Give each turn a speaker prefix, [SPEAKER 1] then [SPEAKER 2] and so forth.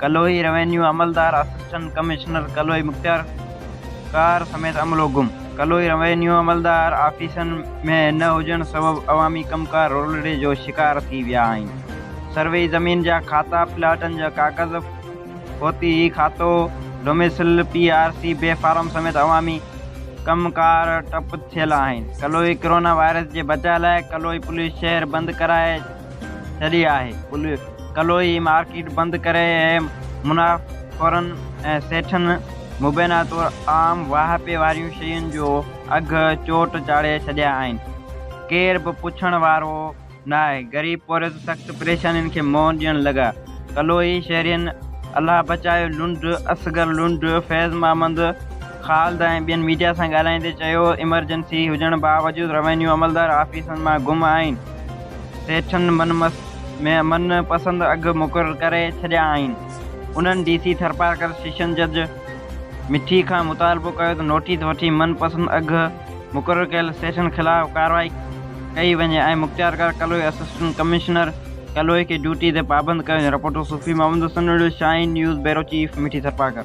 [SPEAKER 1] Kaloi, revenue عملدار assistant commissioner Kaloi مختيار ڪار سميت عملو گم، ڪلوئي روينيو عملدار آفيسن ۾ نه هجڻ سبب عوامي ڪمڪار رولڙي جو شڪار ٿي ويا آهن، سروي زمين جا کاتا، پلاٽن جا ڪاغذ، فوتي کاتو، domicile, P R C, B form سميت عوامي ڪم ڪار ٽپ ٿيل آهن، ڪلوئي ڪورونا وائرس جي بچاء لاء ڪلوئي پوليس شهر بند ڪرائي، ڇڏي آهي. ان ڪلوئي مارڪيٽ بند ڪري ۽ منافعخورن ۽ سيٺن مبينا طور عام واهپي وارين شين جو اگهه چوٽ چاڙهي ڇڏيا آهن. ڪير به پڇڻ وارو ناهي. غريب پورهيت سخت پريشانين کي منهن ڏيڻ لڳا. ڪلوئي شهرين الله بچايو لنڊ، اصغر لنڊ، فيض محمد، خالد ۽ ٻين ميڊيا سان ڳالهائيندي چيو ايمرجنسي هجڻ باوجود روينيو عملدار آفيسن مان گم آهن سيٺن من من پسند اگهه مقرر ڪري ڇڏيا آهن انهن ڊي سي ٿرپارڪر سيشن جج مٺي کان مطالبو ڪيو ته نوٽيس وٺي من پسند اگهه مقرر ڪيل سيشن خلاف ڪارروائي ڪئي وڃي ۽ مختيارڪار ڪلوئي اسسٽنٽ ڪمشنر ڪلوئي کي ڊيوٽي تي پابند ڪيو وڃي reporter Sufi Muhammad Hassan Nariyo Shaheen news bureau chief Mithi Tharparkar.